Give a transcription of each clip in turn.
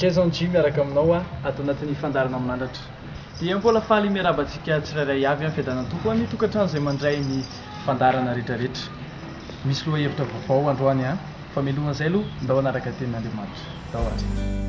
Jason G miaraka aminao aho ato anatin'ny fandaharana manandratra. Dia mbola faly miarahaba antsika tsirairay avy amin'ny Fiadanan'ny Tompo ho an'ny tokantrano izay mandray ny fandaharana rehetrarehetra. Misy lohahevitra vaovao androany an! Fa mialohan'izay aloha, ndao hanaraka ny Tenin'Andriamanitra. Ndao ary.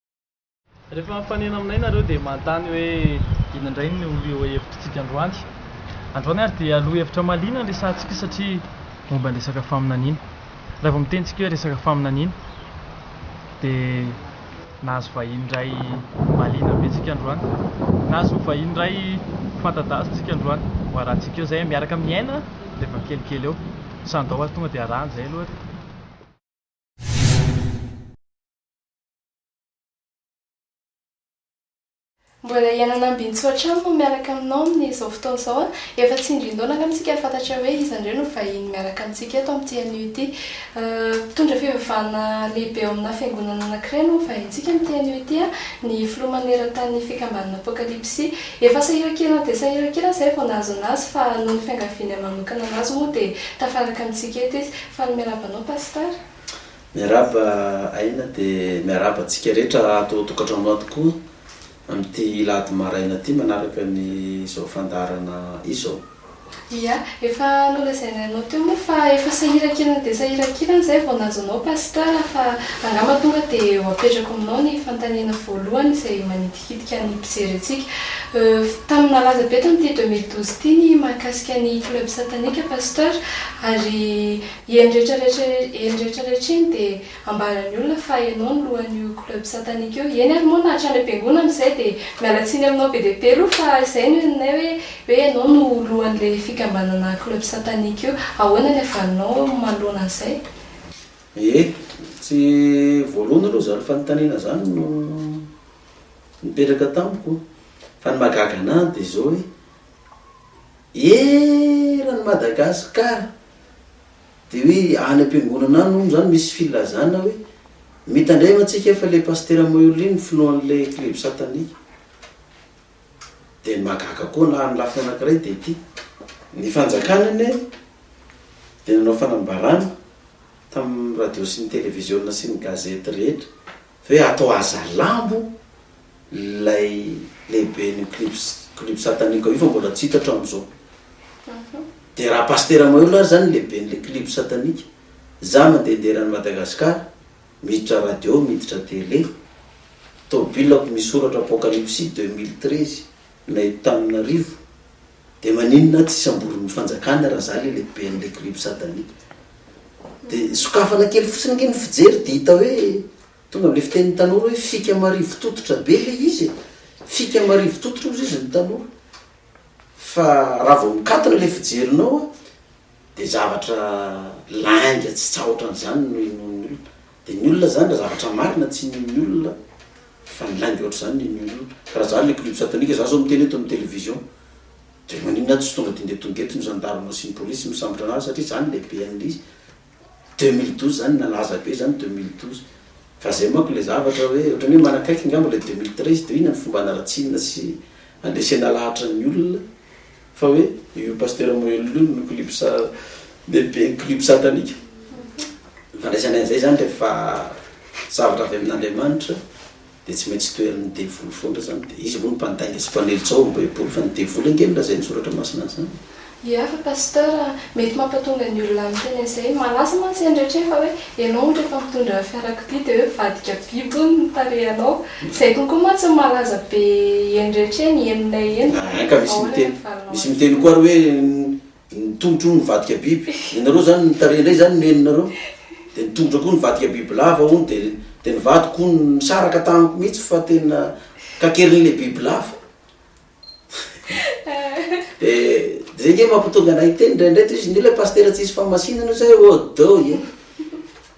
Rehefa mifanena aminay nareo dia manontany hoe inona indray no lohahevitritsika androany. Androany ary dia lohahevitra mahaliana ny resahantsika satria momba ny resaka faminaniana. Raha vao miteny isika hoe resaka faminaniana dia nahazo vahiny iray mahaliana be isika androany. Nahazo vahiny iray fanta-daza isika androany. Ho arahantsika eo izay, miaraka amin'ny aina dia efa kelikely eo. Sandao ary tonga dia arahana izay aloha ary. Mbola hiaina an'Ambinintsoa hatrany moa miaraka aminao amin'izao fotoana izao an! Efa tsy indrindona angamba isika hahafantatra hoe iza indray no vahiny miaraka amintsika eto amin'ity anio ity. Mpitondra fivavahana lehibe ao aminà fiangonana anankiray no ho vahintsika amin'ity anio ity an! Ny filoha maneran-tanin'ny fikambanana Apokalipsy. Efa sahirankirana dia sahirankirana izahay vao nahazo an'azy fa noho ny fiangavianay manokana an'azy moa dia tafaraka amintsika eto izy. Faly miarahaba anao Pasitara. Miarahaba Aina dia miarahaba antsika rehetra ato an-tokantrano ato koa amin'ity alahady maraina ity manaraka ny izao fandaharana izao. Ia, efa nolazainay anao teo moa fa efa sahirankirana dia sahirankirana izay vao nahazo anao Pasteur fa angamba tonga dia ho apetrako aminao ny fanontaniana voalohany izay manitikitika ny mpijery antsika. Euh, tamin'ny nalaza be tamin'ity deux mille douze ity ny mahakasika ny club satanique Pasteur ary Eny rehetra rehetra eny dia ambaran'ny olona fa ianao no lohan'io club satanique io, eny ary moa na hatrany am-piangonana izay dia miala tsiny aminao be dia be aloha fa izay no henonay hoe hoe ianao no lohan'ilay fikambanana club satanique io, ahoana ny havalinao manoloana an'izay? Ee, tsy voalohany aloha izany fanontaniana izany no nipetraka tamiko fa ny mahagaga an'ahy dia izao hoe Eran'i Madagasikara dia hoe any am-piangonana any hono izany misy filazana hoe mitandrema antsika fa ilay Pasitera Maurly no filohan'ilay club satanique. Dia ny mahagaga koa na ny lafiny anankiray dia ity, ny fanjakana anie dia nanao fanambarana tamin'ny radio sy ny televiziona sy ny gazety rehetra Ve atao hazalambo ilay lehiben'io clip clip satanique io fa mbola tsy hita hatramin'izao. Dia raha pasitera Mahelola ary izany lehiben'ilay clip satanique. Izaho mandehandeha eran'i Madagascar, miditra radio, miditra télé. Tomobilako misy soratra apocalypsy deux mille treize na eto Tananarivo. Dia maninona tsy samborin'ny fanjakana raha za le lehiben'le groupe satanique? Dia sokafana kely fotsiny ange ny fijery dia hita hoe tonga amle fitenin'ny tanora hoe fika marivo tototra be le izy e! fika marivo tototra ozy izy ny tanora fa raha vao mikatona le fijerinao a! Dia zavatra lainga tsy tsahotra an'izany no inoan'ny olona. Dia ny olona izany raha zavatra marina tsy inoan'ny olona fa ny lainga ohatr'izany no inoan'ny olona. Raha izany ilay club satanique, za zao miteny eto amin'ny television dia maninona aho tsy tonga dia ndeha tonga eto ny gendarmes sy ny polices misambotra an'ahy satria za no lehibe an'izy. Deux mille douze izany nalaza be izany deux mille douze. Fa zay manko ilay zavatra hoe ohatran'ny hoe manakaiky angamba ilay deux mille treize dia inona ny fomba hanaratsiana sy handresena lahatra ny olona. Fa hoe io Pasteur Moello io no clip sa lehibe ny clip satanique. Fandraisanay an'izay zany rehefa zavatra avy amin'Andriamanitra dia tsy maintsy toherin'ny devoly foana zany dia izy aloha no mpandainga sy mpanilitra ao am baiboly fa ny devoly ange no lazain'ny soratra masina an'izany. Ia fa Pasteur a, mety mampatonga ny olona miteny an'izay, malaza mantsy an'i Ratrema hoe ianao ohatra efa mitondra fiarakodia dia hoe mivadika biby hono ny tarehanao, Izay kokoa moa tsy ny malaza be eny rehetra eny, henonay eny. Aa ka misy miteny, misy miteny koa ary hoe ny tongotro hono mivadika biby, ianareo zany ny tarehy indray zany no henonareo? dia ny tongotra koa nivadika bibilava hono dia dia ny vadiko hono nisaraka tamiko mihitsy fa tena kakerin'ilay bibilava, Dia dia zay nge mampitonga anay hiteny indraindray toy izy nge ilay pasitera tsisy fahamasinana io zay ô dô e!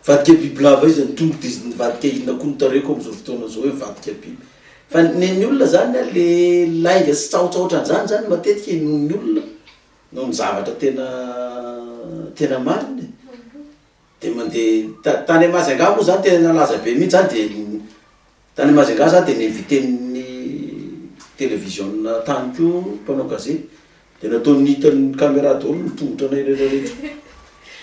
Vadika biby lava izy ny tongotry izy nivadika inona koa no tareko amin'izao fotoana izao hoe vadika biby. Fa nen'ny olona zany an, le lainga sy tsaotsa ohatran'izany zany matetika inoan'ny olona noho ny zavatra tena tena marina e! Dia mandeha ta- tany Majunga moa zany tena nalaza be mihitsy zany dia Tany Majinga za dia niinviten'ny televiziona tany koa mpanao gazety dia nataony hitan'ny caméra daholo ny tongotranay irery rehetra.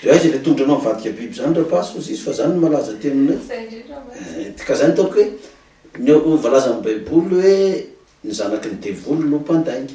Dia aiza ilay tongotranao mivadika biby izany rapace hozy izy fa izany no malaza aty aminay. Izay indrindra mantsy. Ka izay no ataoko hoe ny voalazan'ny baiboly hoe ny zanaky ny devoly no mpandainga.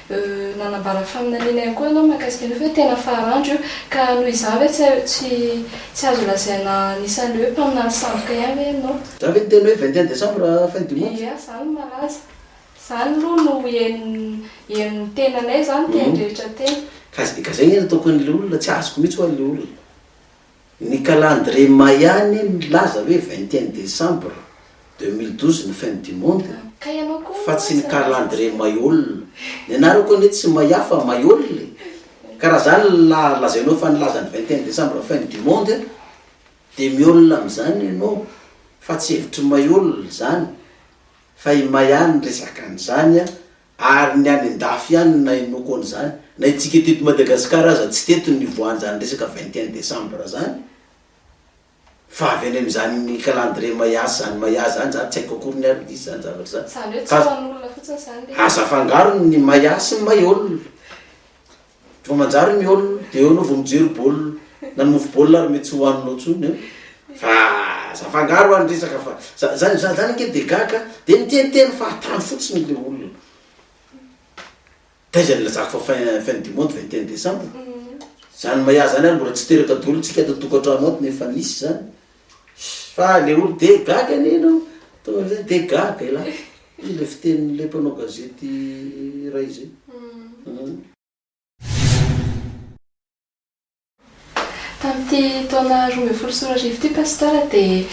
Nanambara faminaniana ihany koa ianao mahakasika an'io fa hoe tena faran'dra io, ka noho izany ve tsy tsy tsy azo lazaina anisan'ireo hoe mpaminany sandoka ihany ve ianao? Zany ve ny teny hoe vingt et un décembre fin du monde? Eeh zany no malaza. Zany aloha no henon'ny henon'ny tenanay zany teny rehetra teny. Ka zay anie no ataoko an'ilay olona, tsy azoko mihitsy ho'a ilay olona. Ny calendrier Maya anie milaza hoe vingt et un décembre deux mille douze ny fin du monde fa tsy ny calendrier Mayol. Ny anarako anie tsy Maya fa Mayol e! Ka raha zany ny lazainao fa nilaza ny vingt et un décembre fin du monde dia miol amin'izany ianao fa tsy hevitr'i Mayol izany fa i Maya no resaka an'izany Ary ny any an-dafy ihany no nahenoako an'izany. Na itsika teto Madagasikara aza tsy teto no nivoahan'izany resaka vingt et un décembre izany. Fa avy any amin'izany calendrier Maya sy izany Maya izany, izaho tsy haiko akory ny ary misy izany zavatra izany. Izany hoe tsy ho an'olona fotsiny izany ilay izy. Aza afangaro ny Maya sy ny Mayol. Vao manjary ny ol de eo anao vao mijery bol na ny mofo bol ary mety tsy hohaninao tsony an! fa aza afangaro any resaka fa za zany za zany ange de gaga de miteniteny fahatany fotsiny le olona taiza nilazako fa fin fin du monde vingt et un decembre zany maya zany ary mbola tsy teraka daholo tsika ato an-tokantrano ato nefa nisy zany Fa le olo de gaga anie enao, tonga amizay de gaga elah. Io le fitenin'le mpanao gazety iray zay. Uhm. Tamin'ity taona roa ambin'ny folo sy roa arivo ity Pasteur dia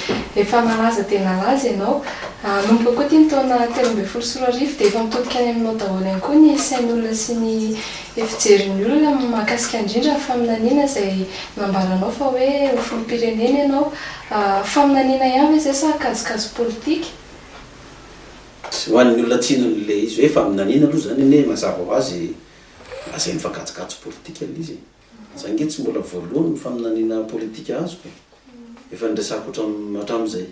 efa nalaza dia nalaza ianao. Hanomboka koa ity ny taona telo ambin'ny folo sy roa arivo dia efa mitodika any aminao daholo ihany koa ny sain'olona sy ny Ny fijerin'ny olona mahakasika indrindra ny faminaniana izay nambaranao fa hoe ho filoham-pirenena ianao. Faminaniana ihany ve izay sa kajikajy politika? Tsy ho an'ny olona tsinona ilay izy hoe faminaniana aloha izany anie mazava ho azy lazainy fa kajikajy politika ilay izy e. Izaho ange tsy mbola voalohany ny faminaniana politika azoko e. Efa niresahako hatramin'izay.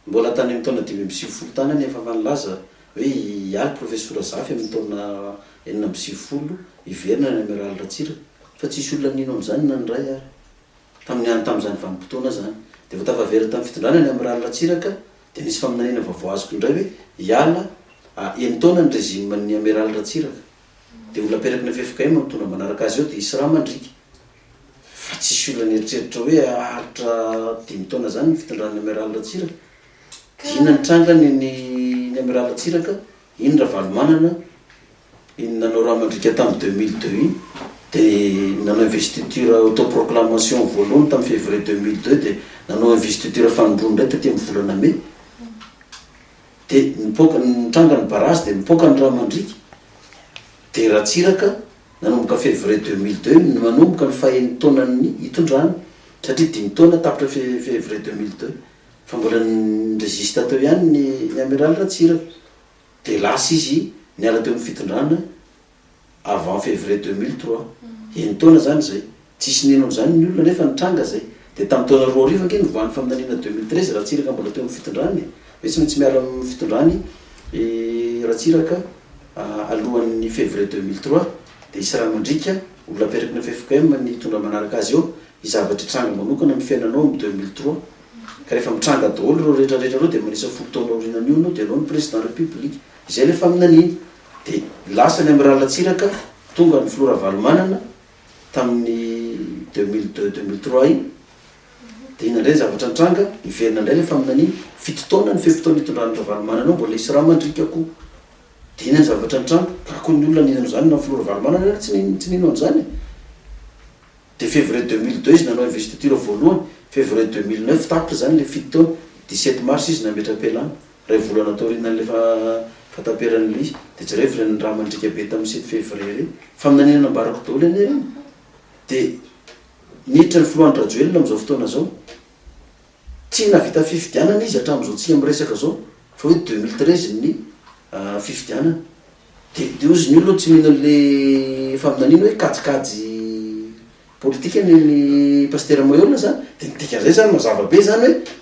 Mbola tany amin'ny taona dimy amby sivifolo tany anefa fa nilaza hoe hialy Profesora Zafy amin'ny taona enina amby sivifolo hiverina ny Amiraly Ratsiraka fa tsisy olona nino an'izany na ny iray ary tamin'ny any tamin'izany vanim-potoana izany dia vao tafaverina tamin'ny fitondrana ny Amiraly Ratsiraka dia nisy faminaniana vaovao azoko indray hoe hiala a enin-taona ny regimen'ny Amiraly Ratsiraka dia ho laperaky ny ffkm amin'ny tondra manaraka azy eo dia hisy rà mandriaka Fa tsisy olona nieritreritra hoe haharitra dimy taona izany ny fitondran'ny Amiral Ratsiraka. Dia inona ny trangany ny ny Amiral Ratsiraka, iny Ravalomanana, iny nanao rà mandriaka tamin'ny deux mille deux iny, dia nanao investiture autoproclamation voalohany tamin'ny février deux mille deux dia nanao investiture fanindroany indray taty amin'ny volana mai. Dia nipoaka, nitranga ny barazy dia nipoaka ny rà mandriaka. Dia Ratsiraka. Nanomboka Février deux mille deux no nanomboka ny fahen'ny taonan'ny itondrany satria dimy taona tapitra Février deux mille deux fa mbola ni-résiste teo ihany ny ny Amiraly Ratsiraka dia lasa izy niala teo amin'ny fitondrana avant Février deux mille trois, enin-taona izany izay. Tsisy nino an'izany ny olona nefa nitranga izay. Dia tamin'ny taona roa arivo ange nivoahan'ny faminaniana deux mille treize Ratsiraka mbola teo amin'ny fitondrany e! Ve tsy maintsy miala amin'ny fitondrany i Ratsiraka alohan'ny février deux mille trois dia hisy ra mandriaka, olona aperakina ffkm ny hitondra manaraka azy eo, hisy zavatra hitranga manokana amin'ny fiainanao amin'ny deux mille trois. Ka rehefa mitranga daholo ireo rehetra rehetra ireo dia manisa folo taona aorianan'io ianao dia ianao no président république. Izay ilay faminaniana. Dia lasa ny Amiral Ratsiraka, tonga ny Filoha Ravalomanana, tamin'ny deux mille deux, deux mille trois iny, dia inona indray ny zavatra nitranga, niverina indray ilay faminaniana, fito taona ny fe-potoana nitondran'i Ravalomanana ao, mbola hisy rà mandriaka koa, dia inona ny zavatra nitranga, ka koa ny olona nino an'izany, na ny filoha Ravalomanana ary tsy nino, tsy nino an'izany e! Dia février deux mille deux izy nanao investiture voalohany, février deux mille neuf tapitra izany ilay fito taona, dix-sept mars izy nametra-pialana, Iray volana taorianan'ilay fahataperan'i Lee, dia jereo ivelany ny raha mandriaka be tamin'ny sivy fevrier ireny. Faminaniana nambarako daholo anie ireny. Dia niditra ny filoha Andry-Rajoelina amin'izao fotoana izao. Tsy nahavita fifidianana izy hatramin'izao tsy miresaka izao, fa hoe deux mille treize ny fifidianana. Dia dia hozy ny olona tsy mino an'ilay faminaniana hoe kajikajy politika ny an'i Pasitera Moeola izany. Dia ny dikan'izay izany mazava be izany hoe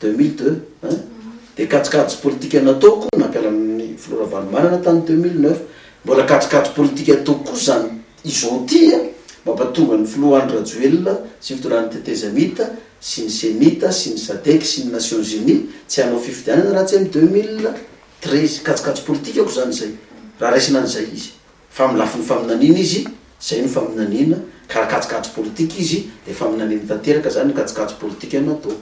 Deux mille deux hein? Dia kajikajy politika natao koa nampiharana ny filoha Ravalomanana tany deux mille neuf. Mbola kajikajy politika atao koa izany izao ity a! Mampatonga ny filoha Andry Rajoelina sy fitondrany tetezamita sy ny Cemita sy ny Sadec sy ny Nations Unies tsy hanao fifidianana raha tsy amin'ny deux mille treize. Kajikajy politika akoa izany izay raha raisina an'izay izy. Fa amin'ny lafiny faminaniana izy, izay no faminaniana, ka raha kajikajy politika izy, dia faminaniana tanteraka izany no kajikajy politika natao.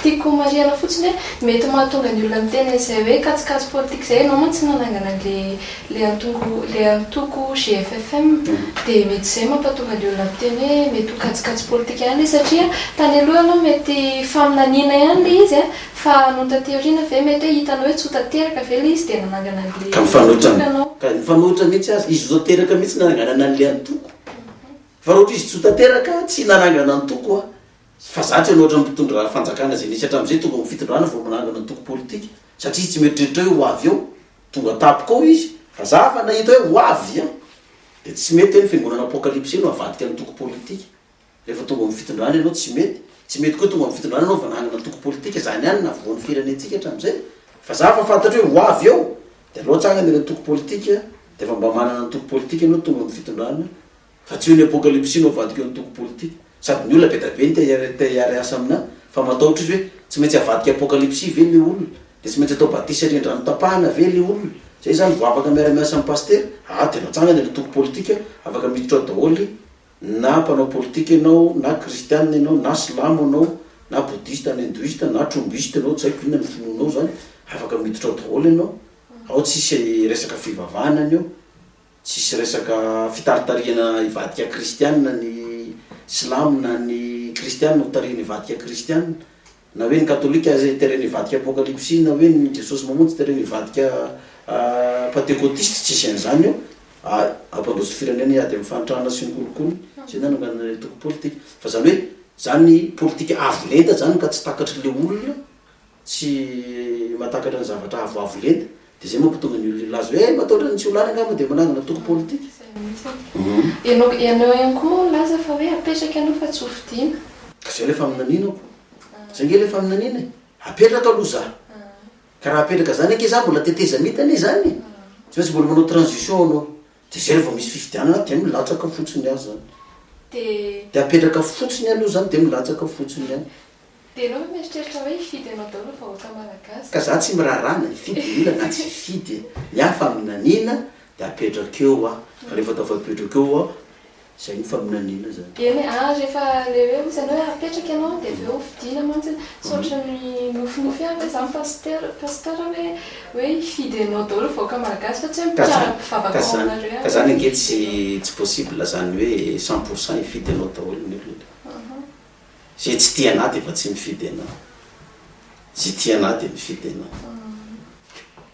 Tiako homarihana fotsiny hoe, mety mahatonga ny olona miteny an'izay hoe kajikajy politika izay, ianao mantsy nanangana an'ilay antongo, ilay antoko GFFM, dia mety izay mampatonga ny olona miteny hoe mety ho kajikajy politika ihany ilay izy, satria tany aloha ianao mety faminaniana ihany ilay izy, Fa nony taty aoriana ve mety hoe hitanao hoe tsy ho tanteraka ve ilay izy dia nanangana an'ilay Ka mifanohitra antoko ianao? ka mifanohitra mihitsy aza, izy ho tanteraka mihitsy no nananganana an'ilay antoko fa raha ohatra izy tsy ho tanteraka aho tsy nanangana antoko aho fa za tsy hanao ohatran'ny mpitondra fanjakana izay nisy hatramin'izay tonga ao amin'ny fitondrana vao manangana antoko politika satria izy tsy mieritreritra hoe ho avy eo tonga tampoka ao izy fa za afa nahita hoe ho avy an! dia tsy mety hoe ny fiangonana apocalypse no avadika antoko politika Rehefa tonga amin'ny fitondrana ianao tsy mety, tsy mety koa tonga amin'ny fitondrana ianao vao nanana antoko politika, izany ihany no navoan'ny firenentsika hatramin'izay. Fa za efa fantatro hoe ho avy eo dia aleo atsangana ilay antoko politika dia efa mba manana antoko politika ianao tonga amin'ny fitondrana fa tsy eo ny apokalipsy no avadika eo ny antoko politika. Sady ny olona be dia be no te hiara-hiasa aminà fa matahotra izy hoe tsy maintsy avadika apokalipsy ve ilay olona? Dia tsy maintsy atao batisa rian-drano tapahana ve ilay olona? Izay izany vao afaka miara-miasa amin'ny pasitera? Aa dia aleo atsangana ilay antoko politika afaka miditra ao daholo na mpanao politika ianao, na kristianina ianao, na silamo ianao, na bodista, na hindoista, na tromboista ianao, tsy haiko inona ny finoanao izany, afaka miditra ao daholo ianao, ao tsisy resaka fivavahana anio, tsisy resaka fitaritarihana hivadika kristianina ny silamo na ny kristianina ho tarihin'ny hivadika kristianina, Na hoe ny katolika izay teren'ny hivadika apokalypsy na hoe ny Jesosy mamonjy teren'ny hivadika pantekotista tsisy an'izany eo ah! Hampandroso firenena hiady amin'ny fahantrana sy ny kolikoly izay nananganan'ilay antoko politika fa izany hoe izany politika avo lenta izany ka tsy takatry le olona tsy mahatakatra ny zavatra avoavo lenta Dia izay manko tonga ny olona hilaza hoe mataotra ny tsy ho lany angaha moa dia manangana toko politika. Ianao ianao ihany koa moa milaza fa hoe apetraka ianao fa tsy ho fidiana. Ka izay ilay faminaniana ko. Izay ange ilay faminaniana e. Apetraka aloha za. Ka raha apetraka izany ange za mbola tetezamita anie izany e. Tsy maintsy mbola manao transition aloha. Dia zay vao misy fifidianana dia milatsaka fotsiny ihany zany. Dia apetraka fotsiny ihany io zany dia milatsaka fotsiny ihany. Dia enao ve mieritreritra hoe hifidy enao daholo vahoaka malagasy? Ka za tsy miraharaha na hifidy ny olona na tsy hifidy e! Ny ahy fa amin'nanina dia apetrako eo aho. Fa rehefa tafapetrak eo aho Izay no faminaniana izany. Eny, ary rehefa ilay hoe misy anao hoe apetraka ianao dia avy eo hofidiana mantsy, tsy ohatra ny nofinofy ihany ve izany pasteur, pasteur hoe hoe hifidy anao daholo ny vahoaka malagasy fa tsy hoe mpiara mpivavaka ao aminareo ihany. Ka izany ange tsy tsy possible izany hoe cent pour cent hifidy anao daholo ny olona. Izay tsy tia anah dia efa tsy mifidy anah. Izay tia anah dia mifidy anah.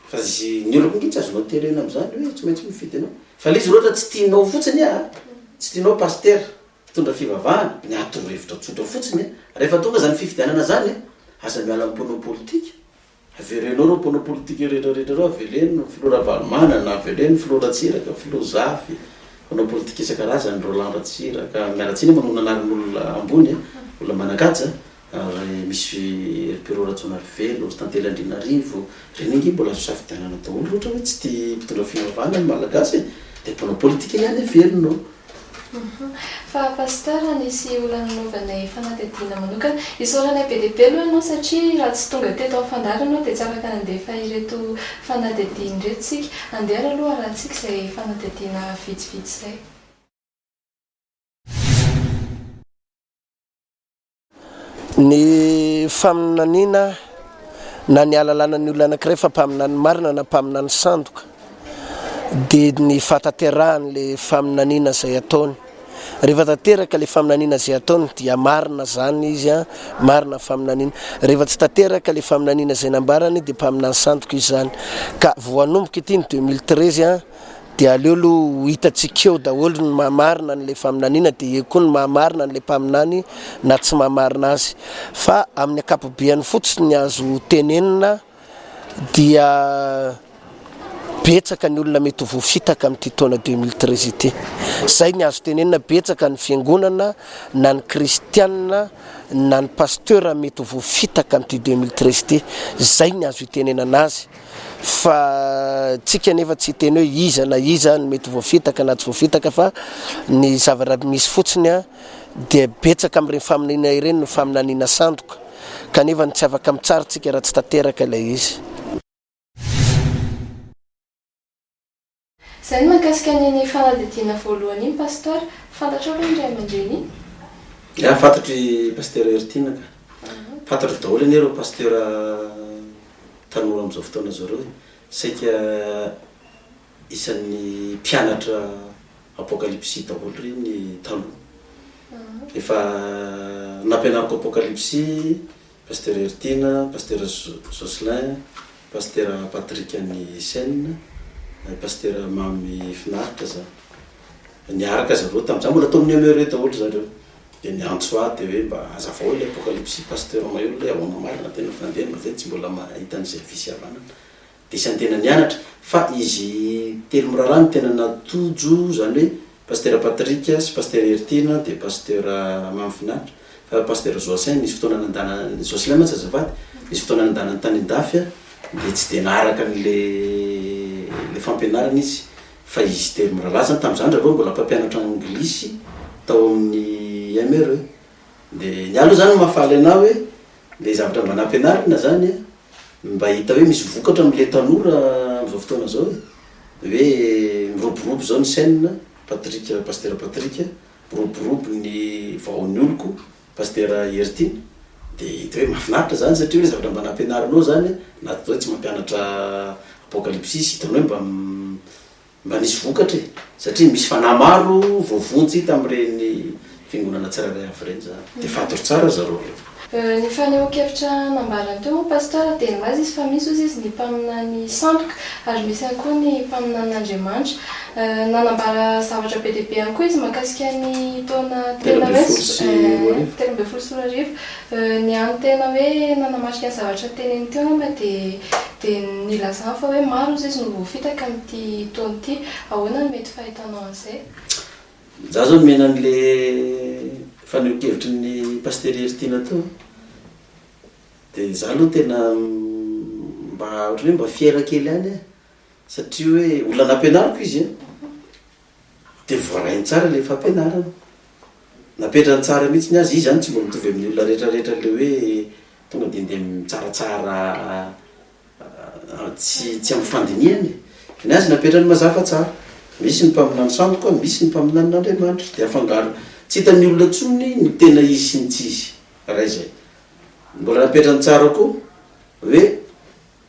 Fa izy, ny oloko ange tsy azonao terena amin'izany hoe tsy maintsy mifidy anao. Fa ilay izy ohatra tsy tianao fotsiny an, tsy tianao pasitera mpitondra fivavahana, ny aha toro-hevitra tsotra fotsiny an, rehefa tonga izany fifidianana izany an, aza miala amin'ny mpanao politika. Averenao ireo mpanao politika retraretra ireo, aveleno ny filoha Ravalomanana, aveleno ny filoha Ratsiraka, filoha Zafy, mpanao politika isan-karazany, Roland Ratsiraka, mialatsiny a manao ny anaran'olona ambony e, olona manan-kaja, ry Monsieur Heripero Rajaonarivelo, ry Tantely Andrianarivo, ireny ange mbola azo safidianana daholo, ohatra hoe tsy tia mpitondra fivavahana ny Malagasy e, dia mpanao politika ihany averina ao. Fa Pasteur nisy olona nanaovanay fanadihadiana manokana. Isaoranay be dia be aloha ianao satria raha tsy tonga teto amin'ny fandary ianao dia tsy afaka nandefa ireto fanadihadiana ireto isika. Andehana aloha harahantsika izay fanadihadiana vitsivitsy izay. Ny faminaniana na ny ahalalana ny olona anankiray fa mpaminany marina na mpaminany sandoka dia ny fahatanterahan'ilay faminaniana izay ataony. Rehefa tanteraka ilay faminaniana izay ataony dia marina izany izy, marina ny faminaniana. Rehefa tsy tanteraka ilay faminaniana izay nambarany dia mpaminany sandoka izy izany. Ka vao hanomboka ity ny 2013. Dia aleo aloha ho hitantsika eo daholo ny maha marina an'ilay faminaniana dia eo koa ny maha marina an'ilay mpaminany na tsy maha marina azy. Fa amin'ny ankapobeany fotsiny ny azo tenenina dia betsaka ny olona mety ho voafitaka amin'ity taona deux mille treize ity. Izay ny azo tenenina betsaka ny fiangonana na ny kristianina na ny pasteur mety ho voafitaka amin'ity deux mille treize ity. Izay ny azo itenenana azy. fa tsika nefa tsy hiteny hoe iza na iza no mety voafitaka na tsy voafitaka fa ny zavaraby misy fotsiny a dia betsaka amin'ireny faminaniana ireny no faminaniana sandoka kanefa ny tsy afaka mitsara tsika raha tsy tanteraka ilay izy Zay ny mahakasika an iny fanadihadiana voalohany iny Pasteur, fantatrao ve ny Ray aman-dreny iny? Ya, fantatro i Pasteur Heritiana ka. Fantatro daholo anie ireo Pasteur tanora amin'izao fotoana izao ireo e. Saika isan'ny mpianatra Apokalypsy daholo ireny taloha. Efa nampianariko Apokalypsy Pasitera Heritiana, Pasitera Jocelyn, Pasitera Patrick an'i Seine, Pasitera Mamy Finaritra za. Niaraka zareo tamin'ny za mbola tao amin'ny MERE daholo zareo. Dia niantso ahy dia hoe mba azavao ilay apokalypsy Pasteur Mahelola hoe ahoana marina tena fa andeha mba ve tsy mbola mahita an'izay fisiavanana Dia isan'ny tena nianatra. Fa izy telo mirahalahy no tena natojo, izany hoe Pasitera Patrick sy Pasitera Heritiana dia Pasitera Mamy Finaritra. Fa Pasitera Joacin nisy fotoana nandana, Jocelin mantsy azafady, nisy fotoana nandanany tany an-dafy dia tsy dia naharaka an'ilay fampianarana izy. Fa izy telo mirahalahy izany, tamin'izaho ry zareo mbola mpampianatra anglisy tao amin'ny MRE. Dia ny ahy aloha izany no mahafaly an'ahy hoe. Ilay zavatra mba nampianarina izany an, ny mba hita hoe misy vokatra amin'ilay tanora amin'izao fotoana izao e, hoe miroborobo izao ny chaîne, Patrick, Pasitera Patrick, miroborobo ny vahoan'ny oloko, Pasitera Heritiana, dia hita hoe mahafinaritra izany satria hoe zavatra mba nampianarinao izany an, na dia izao tsy mampianatra apokalipsisy, hitanao hoe mba m. Mba nisy vokatra e! Satria misy fanahy maro voavonjy tamin'ireny fiangonana tsirairay avy ireny izany. Dia fantaro tsara ry zareo ireo. Ny fanehoan-kevitra nambarany teo moa Pasteur dia nilaza izy fa misy hozy izy ny mpaminany sandoka ary misy ihany koa ny mpaminanin'Andriamanitra. Nanambara zavatra be dia be ihany koa izy mahakasika ny taona telo ambin'ny folo sy roa arivo. Ny hany tena hoe nanamarika ny zavatra teneniny teo angamba dia dia ny nilazany fa hoe maro hozy izy no voafitaka amin'ity taona ity. Ahoana no mety fahitanao an'izay? Za zao nomena an'le fanehonkevitry ny Pasitera Heritiana teo dia za aloha tena mba ohatran'ny hoe mba fier kely ihany aho satria hoe olona nampianariko izy an! Dia voarainy tsara ilay fampianarana. Napetrany tsara mihitsy ny azy. Izy izany tsy mbola mitovy amin'ny olona rehetrarehetra ilay hoe tonga dia ndeha mitsaratsara tsy tsy amin'ny fandinihana e. Ny azy napetrany mazava fa tsara. Misy ny mpaminany sandoka, misy ny mpaminanin'Andriamanitra. Dia afangaro. Tsy hitan'ny olona intsony ny tena izy sy ny tsy izy. Iray izay. Mbola napetrany tsara koa hoe.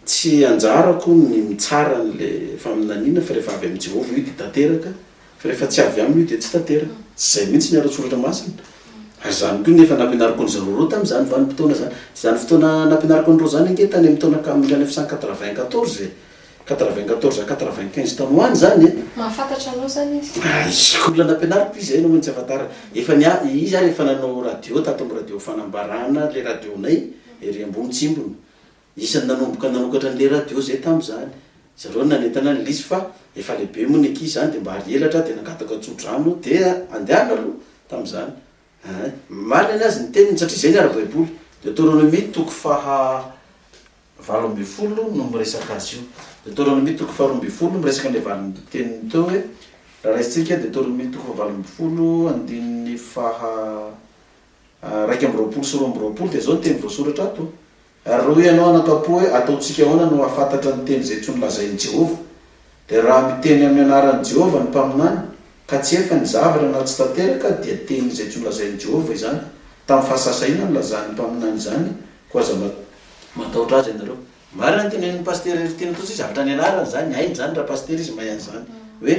Tsy anjarako hono ny mitsara an'le faminaniana fa rehefa avy amin'i Jehovah io dia tanteraka fa rehefa tsy avy aminy io dia tsy tanteraka. Tsy izay mihitsy ny ara-tsoratra masina. Ary izany koa nefa nampianariko an'i zareo ireo tamin'izany vanim-potoana izany. Tsy izany fotoana nampianariko an'ireo izany ange tany amin'ny taona ka mille neuf cent quatre-vingt-quatorze e! Quatre-vingt-quatorze à quatre-vingt-quinze taona ho any izany e! Mahafantatra anao izany izy? Aiza! Olona nampianariko izy hainao hoe ny tsy ahafantarana. Efa ny ahy, izy ary efa nanao radio tato amin'ny radio Fanambarana, ilay radionay ery ambony tsimbony. Isan'ny nanomboka nanokatra an'ilay radio izay tamin'izany. Zareo no nanentana an'i Lisy fa efa lehibe moa ny ankizy izany dia mba ary elatra dia nangataka tso-drano dia andehanina aloha tamin'izany. Ahay. Marina ny azy ny teniny satria izay ny ara-baiboly. Deoteronomia toko faha valo ambin'ny folo no miresaka azy io. Deoteronomia toko faha roa ambin'ny folo miresaka an'ilay valinteniny teo hoe, raha raisintsika Deoteronomia toko faha valo ambin'ny folo andininy faha raika amby roapolo sy roa amby roapolo dia izao ny teny voasoratra ato, Ary raha hoy ianao anakam-po hoe, 'Ataontsika ahoana no hahafantatra ny teny izay tsy nolazain'i Jehovah? dia raha miteny amin'ny anaran'i Jehovah ny mpaminany, ka tsy efa nizavatra na tsy tanteraka, dia teny izay tsy nolazain'i Jehovah izany. Tamin'ny fahasahisahiana no nilazan'ny mpaminany izany, koa aza matahotra azy ianareo. Marina ny tenenin'i Pasitera Heritiana tokoa satria zavatra nianarany izany, hainy izany ra-Pasitera izy mahay an'izany hoe.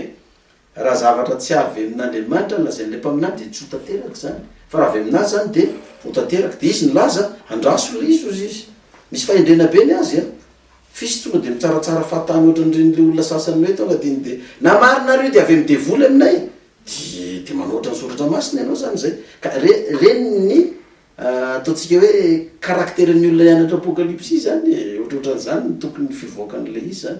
Raha zavatra tsy avy amin'Andriamanitra ny lazain'ilay mpaminany dia tsy ho tanteraka izany, fa raha avy aminazy izany dia ho tanteraka. Dia izy nilaza, Andraso ilay izy, hozy izy. Misy fahendrena be ny azy a! F'isy tonga dia mitsaratsara fahatany ohatra ny ren'ilay olona sasany hoe tonga dia ny dia, na marina ary io dia avy amin'ny devoly aminay e! Dia, dia manoatra ny soratra masina ianao izany izay. Ka re, reny ny, ataontsika hoe, karakteran'ny olona hianatra Apokalypsy izany e! Ohatrohatran'izany no tokony fivoakan'ilay izy izany.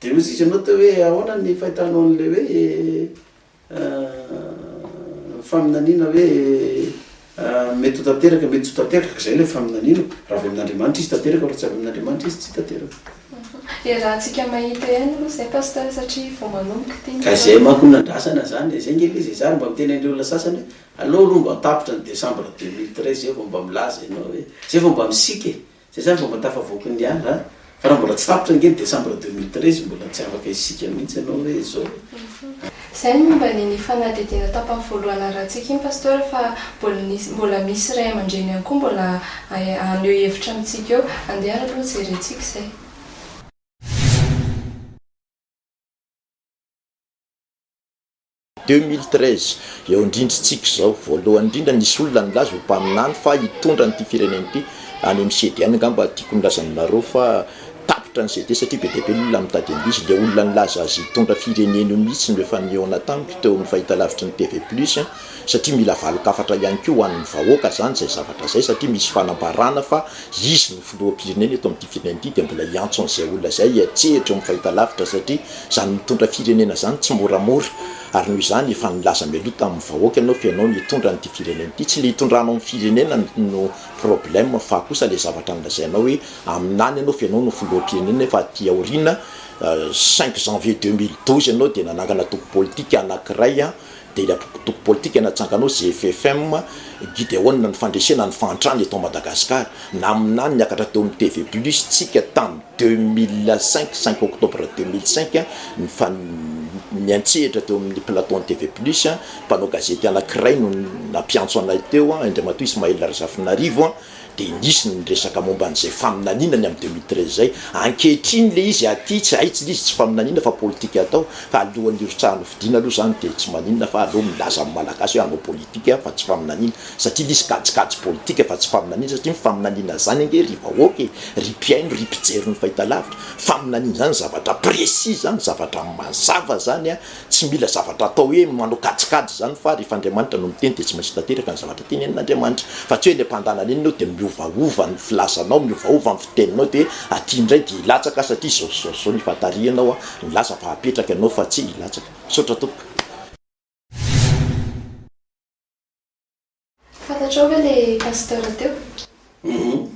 Dia hoy izy ianao teo hoe ahoana ny fahitanao an'ilay hoe faminaniana hoe mety ho tanteraka, mety tsy ho tanteraka, izay ilay faminaniana. Raha avy amin'Andriamanitra izy tanteraka, raha tsy avy amin'Andriamanitra izy tsy tanteraka. Iarahantsika mahita ihany aloha izay Pasteur satria vao manomboka ity ny. Ka izay manko no nandrasana izany, izay ange ilay izy e, zary mba miteny an'ireo olona sasany hoe aleo aloha mba tapitra ny décembre deux mille treize zay vao mba milaza ianao hoe, zay vao mba misiaka e. Zay zany vao mba tafavoaka ny ala a! Fa raha mbola tsy tapitra ange ny décembre deux mille treize mbola tsy afaka isika mihitsy ianao hoe izao e! Zay ny momba an'iny fanadihadiana tapany voalohany narahantsika iny Pasteur fa mbola nisy mbola misy ray aman-dreny ihany koa mbola haneho hevitra amintsika eo. Andeha ary aloha jerentsika izay. Deux mille treize, eo indrindrintsika izao. Voalohany indrindra, nisy olona nilaza ho mpaminany fa hitondra an'ity firenena ity any amin'ny CD. Any angamba tiako nilaza aminareo fa tapitra ny CD satria be dia be ny olona mitady an'ilay izy. Ilay olona nilaza azy hitondra firenena io mihitsy no efa nihaona tamiko teo amin'ny fahitalavitry ny TV Plus. satria mila valin-kafatra ihany koa ho an'ny vahoaka izany izay zavatra izay satria misy fanambarana fa izy no filoham-pirenena eto amin'ity firenena ity dia mbola hiantso an'izay olona izay hiantsehatra eo amin'ny fahitalavitra satria izany mitondra firenena izany tsy moramora ary noho izany efa nilaza mialoha tamin'ny vahoaka ianao fa ianao no hitondra an'ity firenena ity, tsy ilay hitondranao ny firenena no problème fa kosa ilay zavatra nolazainao hoe amin'any ianao fa ianao no filoham-pirenena nefa aty aoriana cinq janvier deux mille douze ianao dia nanangana antoko politika anankiray dia ilay antoko politika natsanganao GFFM, Gideona ny fandresena ny fahantrana eto Madagasikara, naminany niakatra teo amin'ny TV Plus tsika tamin'ny deux mille cinq, cinq octobre deux mille cinq, nifanmiantsehatra teo amin'ny plateau an'ny TV Plus, mpanao gazety anankiray no nampiantso anay teo, Indray matoa Ismaël Razafinarivo, dia nisy ny niresaka momba an'izay faminaniana ny amin'ny deux mille treize izay, ankehitriny ilay izy aty tsy hay tsy ilay izy tsy faminaniana fa politika atao fa alohan'ny hirotsahany ho fidiana aloha izany dia tsy maninona fa aleo milaza amin'ny malagasy hoe hanao politika fa tsy faminaniana satria ilay izy kajikajy politika fa tsy faminaniana satria ny faminaniana izany ange ry vahoaka e, ry mpihaino, ry mpijery ny fahitalavitra, faminaniana izany zavatra précis izany, zavatra mazava izany an! Tsy mila zavatra atao hoe manao kajikajy izany fa rehefa Andriamanitra no miteny dia tsy maintsy tanteraka ny zavatra tenenin'Andriamanitra fa tsy hoe ilay mpandananenina eo dia miovaova ny filazanao, miovaova ny fiteninao dia aty indray dia hilatsaka satria izao sy izao sy izao nifantarihanao, nilaza fa hapetraka ianao fa tsy hilatsaka. Misaotra tompoko. Fantatrao ve le pasteur teo? Humm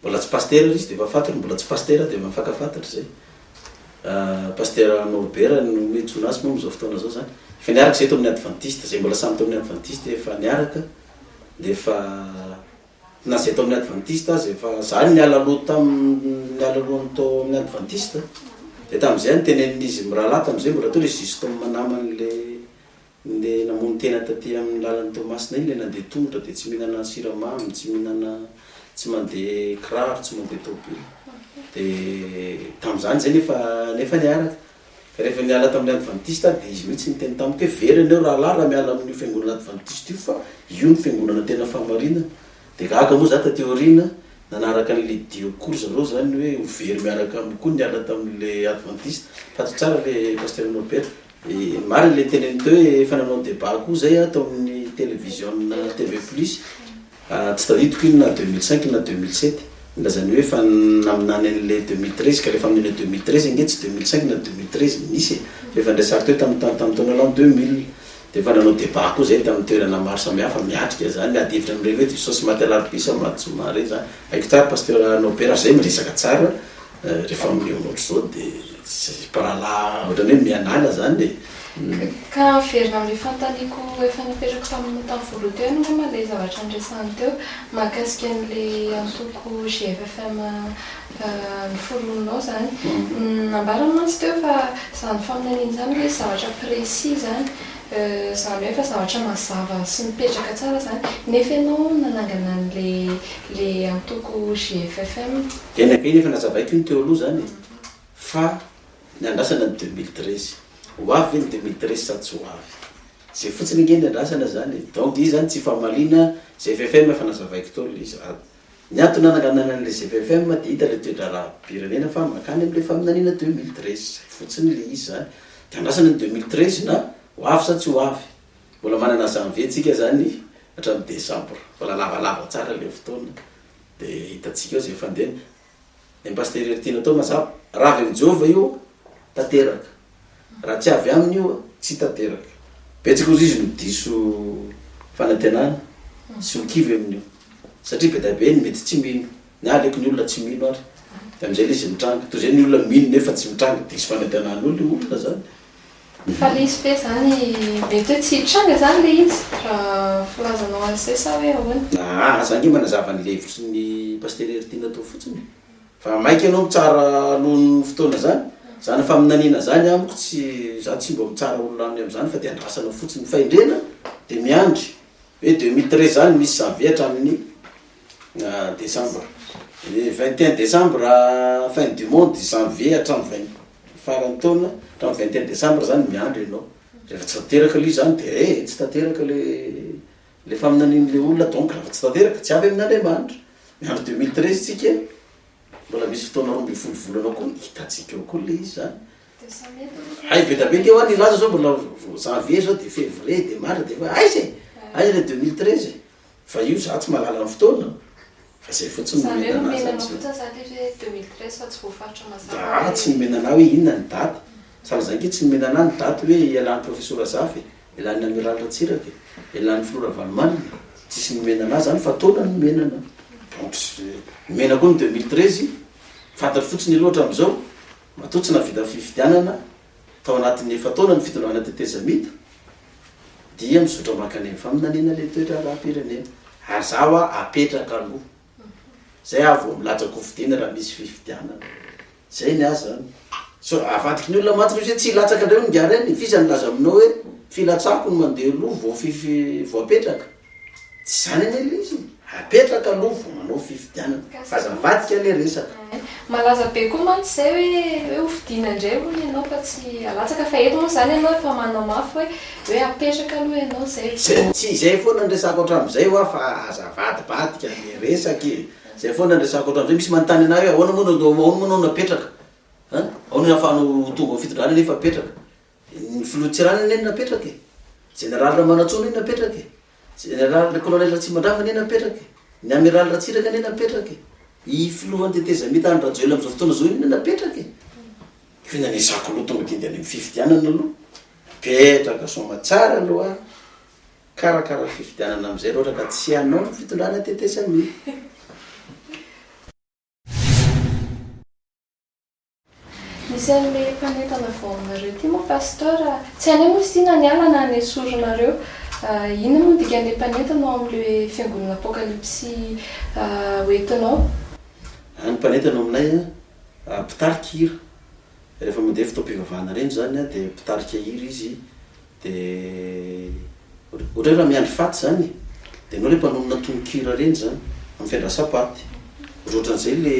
mbola tsy pasteur ary izy de efa fantatra, mbola tsy pasteur de efa mifankafantatra zay. Pasteur Norbert no iantsoana azy moa amin'izao fotoana izao zany. Efa niaraka izay tao amin'ny adventiste, izay mbola samy tao amin'ny adventiste efa niaraka de efa na izay tao amin'ny adventiste aza efa, za niala loha tamin'ny niala lohany tao amin'ny adventiste de tamin'izay no tenenin'izy mirahalahy tamin'izay mbola teo le justement naman'le Ndeha namono tena taty amin'ny lalan'i Toamasina iny ilay nandeha tongotra dia tsy mihinana siramamy, tsy mihinana, tsy mandeha kiraro, tsy mandeha tôbily. Dia tamin'izany izay nefa nefa niaraka. Ka rehefa niala tamin'ilay advantista aho dia izy mihitsy niteny tamiko hoe very ianao rahalahy raha miala amin'io fiangonana advantista io fa io no fiangonana tena fahamarinana. Dia gaga moa izaho taty aoriana nanaraka an'i Lydia koa ry zareo izany hoe ho very miaraka amiko koa niala tamin'ilay advantista. Tadidio tsara ilay Pasitera Norbert. Marina le tenen'i Teo e, efa nanao debat koa zay aho tao amin'ny televiziona TV plus, tsy tadidiko iny na deux mille cinq na deux mille sept, nilazany hoe efa naminany an'le deux mille treize ka rehefa amin'iny deux mille treize ange tsy deux mille cinq na deux mille treize no nisy e, fa efa niresa ry Teo tam tam taona l'an deux mille, de efa nanao debat koa zay tamin'ny toerana maro samihafa, miatrika zany, miady hevitra amin'ireny hoe diso sens maty alarobia sa maty zoma re zany, haiko tsara pasteur Nobert fa zay miresaka tsara, Rehefa mihaona ohatr'izao dia tsy mpirahalahy ohatrany hoe mianala zany e! Ka averina amin'io fanontaniako efa napetrako tamin'ny tamin'ny voaloha teo ianao angamba ilay zavatra niresahany teo mahakasika an'ilay antoko GFFM noforoninao zany. Nambarany mantsy teo fa izany faminaniana izany hoe zavatra précis izany. Zany hoe efa zavatra mazava sy mipetraka tsara zany nefa ianao nanangana an'le antoko GFFM. Eny aka iny efa nazavaiko iny teo aloha zany e! Fa ny andrasana ny deux mille treize. Ho avy ve ny deux mille treize sa tsy ho avy? Zay fotsiny ange ny andrasana zany e! Donc izy zany tsy famaliana GFFM fa nazavaiko teo le izy. Ny antony nananganana an'ilay GPFM dia hita ilay toe-draharaham-pirenena fa mankany amin'ilay faminaniana deux mille treize. Izay fotsiny ilay izy izany. Dia andrasana ny deux mille treize na ho avy sa tsy ho avy. Mbola manana janvier tsika izany hatramin'ny décembre. Mbola lavalava tsara ilay fotoana. Dia hitantsika eo izay fandehany. Ny Pasitera ery tiana atao mazava. Raha avy amin'i Jehovah io, tanteraka. Raha tsy avy aminy io, tsy tanteraka. Betsaka hozy izy no diso fanantenana sy ho kivy amin'io. Satria be dia be ny mety tsy mino. Ny ahy aleoko ny olona tsy mino ary. Dia amin'izay ilay izy mitranga. Toy izay ny olona mino nefa tsy mitranga. Diso fanantenan'olona io olona izany. Fa le izy ve zany mety hoe tsy hitranga zany le izy raha filazanao an'izay sa hoe ahoana? Aa aza ange manazava ny levitry ny Pasitera Heritiana atao fotsiny e! Fa maika ianao mitsara alohan'ny fotoana zany? Zany faminaniana zany amiko tsy, za tsy mba mitsara olona any am'zany fa de andrasana fotsiny, ny fahendrena de miandry hoe deux mille treize zany misy janvier hatramin'ny desambra, vingt et un desambra fin du monde, janvier hatramin'ny vingt Faran'ny taona, hatramin'ny vingt et un décembre izany miandry ianao. Rehefa tsy tanteraka aloha izany dia eh, tsy tanteraka ilay ilay faminanian'ilay olona, donc raha vao tsy tanteraka, tsy avy amin'Andriamanitra. Miandry deux mille treize isika e, mbola misy fotoana roa ambin'ny folo volana koa, hitantsika eo koa ilay izy izany. Hay be dia be kay hoa ny laza izao mbola vao janvier izao dia février dia mars dia efa aiza e, aiza ilay deux mille treize e. Fa io za tsy mahalala ny fotoana fa zay fotsiny no omena anah za tsy Za tsy nomena anah hoe inona ny daty sady za ange tsy nomena anah ny daty hoe ialan'ny profesora Zafy e, ialan'ny Amiral Ratsiraka e, ialan'ny filoha Ravalomanana e, tsisy nomena anah zany fa taona no nomena anah. Donc nomena koa ny deux mille treize, fantatro fotsiny aloha hatramin'izao matoa tsy nahavita fifidianana. Tao anatin'ny efa-taona ny fitondrana tetezamita dia mizotra mankany amin'ny faminaniana ilay toe-draharaham-pirenena. Ary izaho hoa apetraka aloha. Izay aho vao milaza kofidiana raha misy fifidianana. Izay ny ahy izany. So, avadiky ny olona mantsy misy hoe tsy hilatsaka indray hono ingahy Reny. F'iza nilaza aminao hoe filatsako no mandeha aloha vao fify, vao apetraka? Tsy izany anie ilay izy e! Apetraka aloha vao manao fifidianana. Fa aza mivadika ilay resaka. Malaza be koa mantsy izay hoe hoe ho fidiana indray hono ianao fa tsy alatsaka fa eto moa izany ianao efa manao mafy hoe hoe apetraka aloha ianao izay vao. Izay tsy izay foana no resako hatramin'izay hoa fa aza avadibadika ilay resaka e! Izay foana no resako hatramin'izay, misy manontany anah hoe ahoana moa no ahoana moa ianao no apetraka? An! Ahoana no ahafahanao ho tonga ho fitondrana nefa apetraka? Ny filoha Tsiranana anie napetraka e! Jeneraly Ramanantsoa anie napetraka e! Jeneraly Kolonely Ratsimandrava anie napetraka e! Ny Amiraly Ratsiraka anie napetraka e! I filohan'ny tetezamita Andry Rajoelina amin'izao fotoana izao io anie napetraka e! Koa inona no ezahako aloha tonga dia andeha any amin'ny fifidianana aloha. Apetraka soamatsara aloha ary karakara ny fifidianana amin'izay raha ohatra ka tsy hanao ny fitondrana tetezamita. Misy anle mpanentana vao aminareo ty moa Pasteur a! Tsy anay moa izy ty na niala na nesorinareo. Inona moa ny dikan'le mpanentana ao amin'le fiangonana apokalipsy ho entinao? Any mpanentana ao aminay a, mpitarika hira, rehefa mandeha fotoam-pivavahana ireny izany a, dia mpitarika hira izy, Dia ohatray raha miandry faty zany e! Dia enao le mpanonona tononkira reny zany am fiandrasa paty. Ohatry ohatran'izay le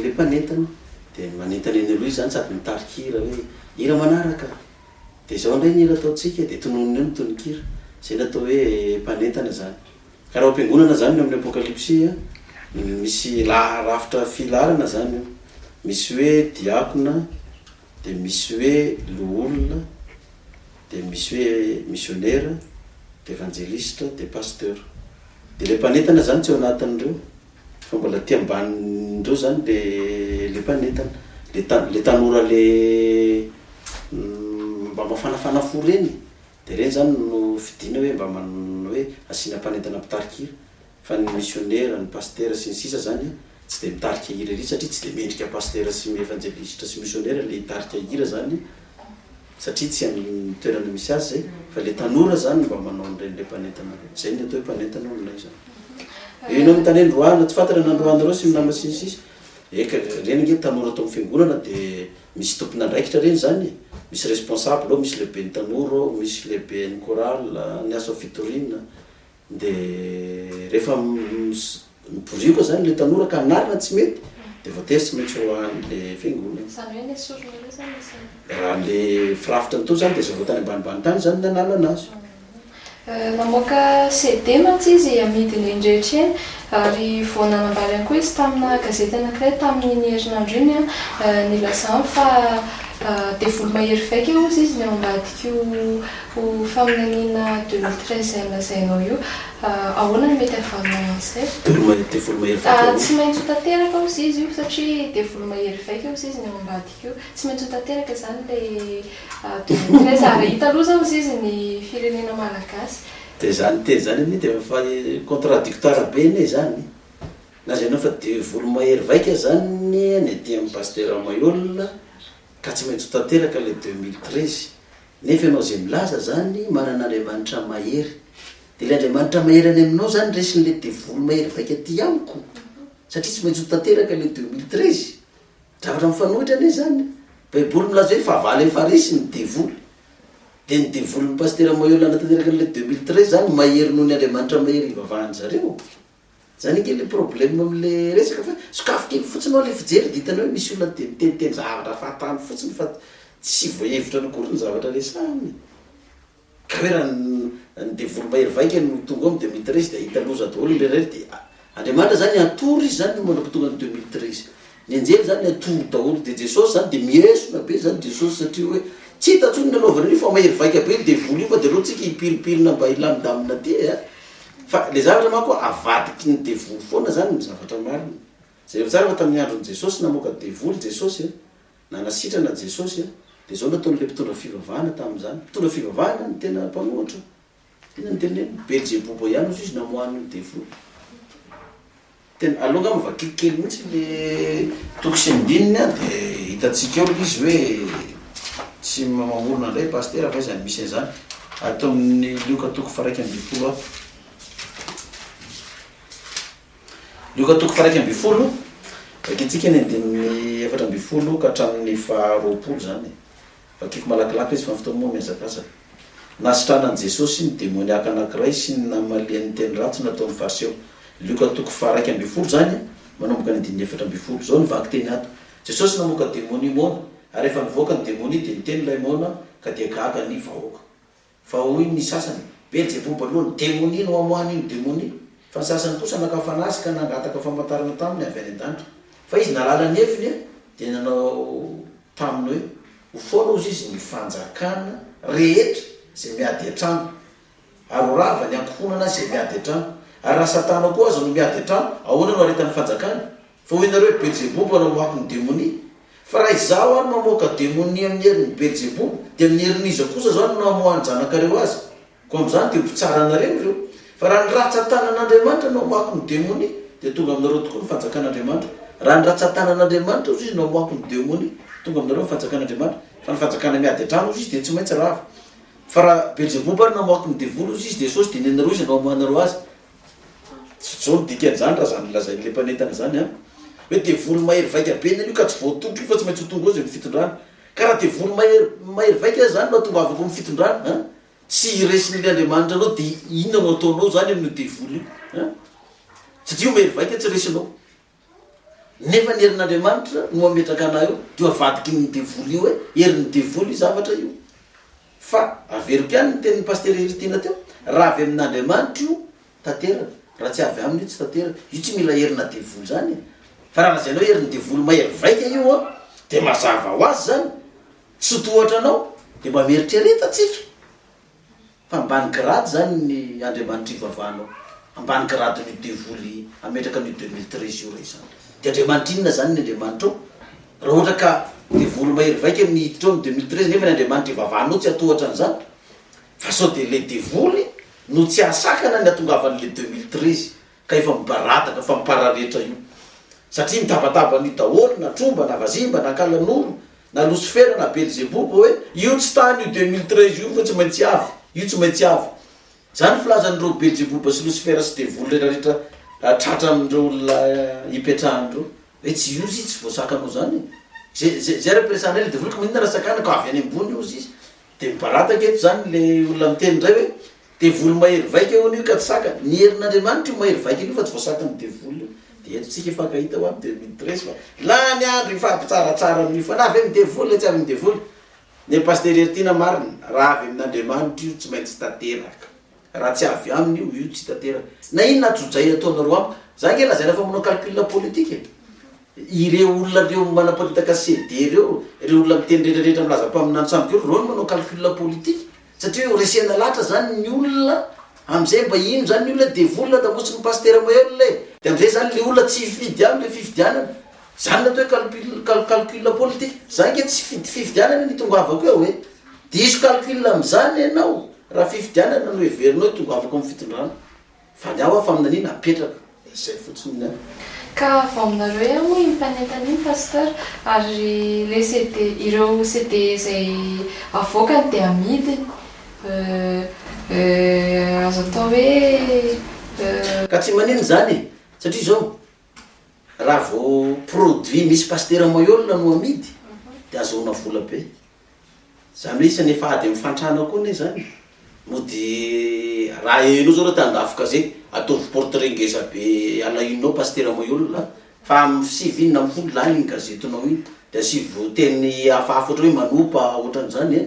le mpanentana dia manentana eny aloha izy zany sady mitarika hira hoe hira manaraka dia zao ndray ny hira ataontsika e! Dia tononiny eo ny tononkira. Zay ny atao hoe mpanentana zany. Ka raha ao am-piangonana zany ny amin'ny apokalypsy a, misy laha rafitra filaharana zany io. Misy hoe diakona, Dia misy hoe loholona, dia misy hoe misionera, dia evanjelisitra, dia pasteur. Dia ilay mpanentana izany tsy ao anatin'ireo, fa mbola aty ambanin'ireo izany ilay ilay mpanentana. Ilay ta- ilay tanora ilay mba mafanafana fo ireny e, dia ireny izany no fidina hoe mba man- hoe asiana mpanentana mpitarika hira. Fa ny misionera, ny pasitera sy ny sisa zany tsy dia mitarika hira ery satria tsy dia mendrika pasitera sy evanjelisitra sy misionera le hitarika hira zany satria tsy amin'ny toerana misy azy zay fa le tanora zany no mba manao an'ireny le mpanentana reo. Zay ny atao hoe mpanentana ao aminay zany. Eo ianao mitany hoe Androana, tsy fantatra ny Androanareo sy ny nama sy ny sisa. Eka, ireny ange tanora ato amin'ny fiangonana dia misy tompon'andraikitra ireny zany e! Misy responsable ao, misy lehiben'ny tanora ao, misy lehiben'ny chorale, ny asa fitoriana, Dia rehefa miborioka izany ilay tanora ka hanarina tsy mety dia voatery tsy maintsy ho an'ilay fiangonana. Izany hoe ilay sorona ireo izany isan'ny. Raha ilay firafitra nitory izany dia zavao tany ambanibany tany izany nanalana azy. Namoaka CD mantsy izy amidiny eny rehetra eny ary vao nanambara ihany koa izy tamina gazety anankiray tamin'iny herinandro iny ny lazany fa devoly mahery vaika hozy izy ny ao ambadik'io Io faminaniana deux mille treize izay nolazainao io, ahoana no mety havanana an'izay? Devoly, devoly mahery vaika hono. Tsy maintsy ho tanteraka hozy izy io satria devoly mahery vaika hozy izy ny ao ambadika io. Tsy maintsy ho tanteraka izany ilay deux mille treize ary hita aloha izao hozy izy ny firenena malagasy. Dia izany teny izany anie dia efa contradictoire be anie izany. Lazainao fa devoly mahery vaika izany ny aty amin'ny Pasitera Maihol. Ka tsy maintsy ho tanteraka ilay deux mille treize. Nefa ianao izay milaza izany manana Andriamanitra mahery. Dia ilay Andriamanitra mahery any aminao izany resin'ilay devoly mahery vaika aty amiko. Satria tsy maintsy ho tanteraka ilay deux mille treize. Zavatra mifanohitra anie izany. Baiboly milaza hoe fahavalo eny Farisy ny devoly. Dia ny devolin'i Pasitera Mahery hanatanteraka an'ilay deux mille treize izany mahery noho ny Andriamanitra mahery ivavahan-dry zareo? Zany ange le problème am le resaka fa sokafy kely fotsiny ao le fijery de hitanao hoe misy olona de miteniteny zavatra fahatany fotsiny fa tsy voahevitra ny akory ny zavatra resahiny e! ka hoe raha ny devoly mahery vaika no tonga ao de mille treize de hahita loza daholo ny rehetra rehetra de Andriamanitra zany hatory izy zany mandra-pahatonga ny deux mille treize. Ny anjely zany atory daholo de Jesosy zany de miesona be zany Jesosy satria hoe tsy hita tsony ny nanaovany an'io fa mahery vaika be io devoly io fa de aleontsika hipiripirina mba hilamindamina aty e a! Fa le zavatra manko avadiky ny devoly foana zany ny zavatra marina. Jereo tsara fa tamin'ny andron'i Jesosy namoaka devoly Jesosy a! Nanasitrana Jesosy a! De zao nataon'ilay mpitondra fivavahana tamin'izany. Mpitondra fivavahana no tena mpanohitra. Tena niteny hoe Belzeboba ihany hozy izy namoahany io devoly. Tena, aleo angamba vakiko kely mihitsy le toko sy andininy an, de hitantsika eo le izy hoe tsy mamorona indray Pasitera fa iza no misy an'izany. Ato amin'ny Lioka toko faha iraika ambin'ny folo ato. Lioka toko faha iraika ambin'ny folo, vakintsika ny andininy efatra ambin'ny folo ka hatramin'ny faha roapolo izany e. Vakiko malakilaky izy fa ny fotoana moa mihazakazaka. Nahasitranan'i Jesosy ny demoniaka anankiray sy ny namaliany ny teny ratsy nataon'ny Fariseo. Lioka toko faha iraika ambin'ny folo izany, manomboka ny andininy efatra ambin'ny folo. Izao no vakiteny ato, Jesosy namoaka demonia moana, ary rehefa nivoaka ny demonia dia niteny ilay moana ka dia gaga ny vahoaka. Fa hoy ny sasany, Beelzeboba aloha ny demonia no amoahany iny demonia. Fa ny sasany kosa naka fanazy ka nangataka famantarana taminy avy any an-danitra. Fa izy nalala ny heviny dia nanao taminy hoe, Ho foana hozy izy ny fanjakana rehetra izay miady an-trano, ary ho rava ny ankohonana izay miady an-trano. Ary raha Satana koa aza no miady an-trano, ahoana no haretan'ny fanjakany? Fa hoy ianareo, Belzeboba no mamoaky ny demonia. Fa raha Izaho ary mamoaka demonia amin'ny herin'i Belzeboba, dia amin'ny herin'iza kosa izao no namoahan'ny zanakareo azy? Koa amin'izany dia ho mpitsara anareo ireo. Fa raha ny ratsan-tanan'Andriamanitra no hamoaky ny demonia, dia tonga aminareo tokoa ny fanjakan'Andriamanitra. Raha ny ratsan-tanan'Andriamanitra, hoy Izy, no hamoaky ny demonia, tonga aminareo ny fanjakan'Andriamanitra. Fa ny fanjakana miady an-trano, hoy Izy, dia tsy maintsy rava. Fa raha Belzeboba ary namoaky ny devoly, hoy Izy, dia sao tsy dia nenareo Izy no hamoahanareo azy? Tsy zao ny dikan'izany raha zany lazain'ilay mpanentana izany an! Hoe devoly mahery vaika be ny anio ka tsy voatondro io fa tsy maintsy ho tondro azy eo amin'ny fitondrana. Ka raha devoly mahery mahery vaika aza izany no atongavako amin'ny fitondrana an! Tsy hiresin'ilay Andriamanitra anao dia inona no ataonao izany amin'io devoly io an! Satria io mahery vaika tsy resinao. Nefa ny herin'Andriamanitra no mametraka anah eo de avadiky ny devoly io e, herin'ny devoly io zavatra io. Fa averiko ihany ny tenin'i Pasitera Heritina teo, raha avy amin'Andriamanitra io tanteraka, raha tsy avy aminy io tsy tanteraka. Io tsy mila herina devoly zany e. Fa raha lazainao herin'ny devoly mahery vaika io an, de mazava ho azy zany, tsy tohatra anao, de mba mieritrereta tsika. Fa ambany grade zany ny Andriamanitry ivavahanao? Ambany grade an'io devoly ametraka an'io deux mille treize io re izany? De Andriamanitra inona zany ny Andriamanitrao? Raha ohatra ka devoly mahery vaika ny hiditra ao amin'ny deux mille treize nefa ny Andriamanitra ivavahanao tsy hatohatra an'izany? Fa sao de ilay devoly no tsy hahasakana ny hatongavan'ilay deux mille treize? Ka efa mibaradaka fa mipararetra io satria mitabataba an'io daholo na tromba na vazimba na kalanoro na losifera na belzeboba hoe io tsy tany io deux mille treize io fa tsy maintsy avy io tsy maintsy avy zany filazan'ireo belzeboba sy losifera sy devoly retraretra tratran'ireo olona ipetrahan'ireo hoe tsy io izy tsy voasakanao zany e ze ze ze represana ilay devoly ka maninona raha sakanako avy any ambony io izy Dia mibarataka eto izany ilay olona miteny indray hoe, Devoly mahery vaika hono io ka tsy sakana. Ny herin'Andriamanitra io mahery vaika an'io fa tsy voasakan'ny devoly io. Dia eto isika hifankahita ho any deux mille treize fa lany andro hifampitsaratsara amin'io fa na avy amin'ny devoly na tsy avy amin'ny devoly, ny an'i Pasitera Heritiana marina, raha avy amin'Andriamanitra io tsy maintsy tanteraka. Raha tsy avy aminy io, io tsy tanteraka. Na inona ajojay ataonareo amiko, za ange lazaina fa manao calcul politique e! Ireo olona ireo manaparitaka CD ireo, ireo olona miteny retraretra milaza mpaminany sambo kely, ireo no manao calcul politique satria hoe resena latra zany ny olona, amzay mba ino zany ny olona e! Devoly nadamosin'ny pastera maherina e! De amzay zany le olona tsy hifidy aminy le fifidianana, zany ny atao hoe calcul calcul politique, za ange tsy hifidy fifidianana e! Ny itongavako eo e! Diso calcul amin'izany ny anao raha fifidianana no heverinao hoe tongavako amin'ny fitondrana. Fa ny hafa faminaniana apetraka. Izay fotsiny ny ahy. Ka vao aminareo ihany moa iny mpanentana iny Pasteur, ary le CD, ireo CD izay avoakany dia amidiny, euh, euh, azo atao hoe, euh. Ka tsy maninona izany e, satria izao, raha vao produit misy Pasitera Maihol no amidy dia azahoana vola be. Zany hoe isan'ny efa ady amin'ny fahantrana koa anie zany. Mody raha hainao zao raha te handafo gazety, ataovy portrait ngeza be alahinao pasitera moy olona a! Fa amin'ny sivy inona amin'ny folo lany iny gazetinao iny, de asivo teny hafahafa ohatra hoe manopa ohatran'izany a!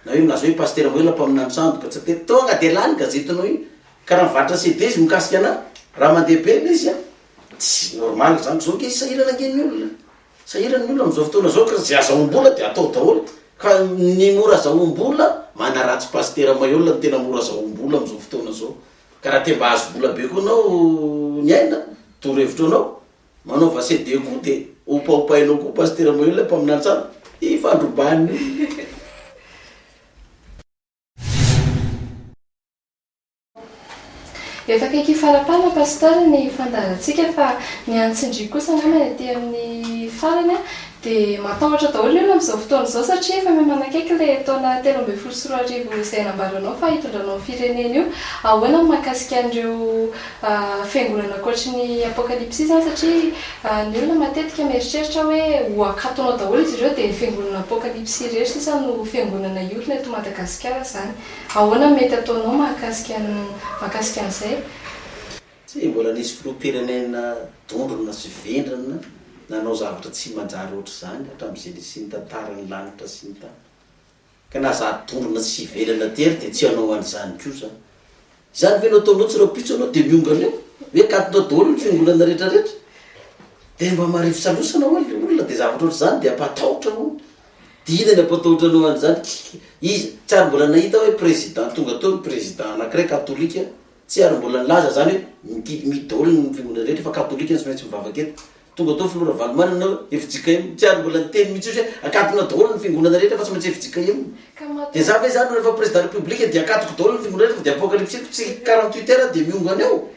Na hoe milaza hoe pasitera moy olona mpaminany sandoka tsy atety, tonga de lany gazetinao iny! Ka raha mivarotra CD izy mikasika anah, raha mandeha be le izy a! Tsy normal zany, zao ange sahirana ange ny olona. Sahirana ny olona amin'izao fotoana izao ka izay azahoam-bola dia atao daholo ka ny mora azahoam-bola manaratsy pasitera maihol no tena mora azahoam-bola amin'izao fotoana izao ka raha te mba hahazo vola be koa ianao ny aina toro hevitro anao manaova CD koa dia hopahopahinao koa pasitera maihol mpaminany tsara ifandrobahan'ny Efa akaiky hifarapana Pasteur ny fandaharantsika fa ny an'i Tsindrio kosa angamba ny aty amin'ny farany dia matahotra daholo ny olona amin'izao fotoana izao satria efa mihamanakaiky ilay taona telo ambin'ny folo sy roa arivo izay nambaranao fa hitondranao ny firenena io. Ahoana ny mahakasika an'ireo fiangonana ankoatry ny Apocalypse izany satria ny olona matetika mieritreritra hoe ho akatonao daholo izy ireo dia ny fiangonana Apocalypse irery sisa no fiangonana hiorina eto Madagasikara izany. Ahoana no mety ataonao mahakasika an'i mahakasika an'izay? Tsy mbola nisy filoham-pirenena dondrona sy vendrana nanao zavatra tsy manjary ohatr'izany hatramin'izay nisian'ny tantaran'ny lanitra sy ny tany. Ka na za dondrona sy vendrana tery dia tsy hanao an'izany koa za. Izany ve no ataonao tsy rahampitso ianao dia miongana eo? Hoe katonao daholo ny fiangonana rehetra rehetra? Dia mba marivo salosana ho'a ilay olona dia zavatra ohatr'izany dia hampatahotra hono. Dina ny apototra alohan izany kky iza? Tsy ary mbola nahita hoe président tonga teo ny président anakiray katolika tsy ary mbola nilaza zany hoe mity mi dol ny fiangonana rehetra fa katolika no tsy maintsy mivavaka eto tonga teo filoha ravalomanana hoe fjkm tsy ary mbola niteny mitsy ozy hoe akatona dol ny fiangonana rehetra fa tsy maintsy fjkm de za ve zany rehefa président république de akatoko dol ny fiangonana rehetra fa de apocalypsiko tsy quarante huit heure dia miongo any eo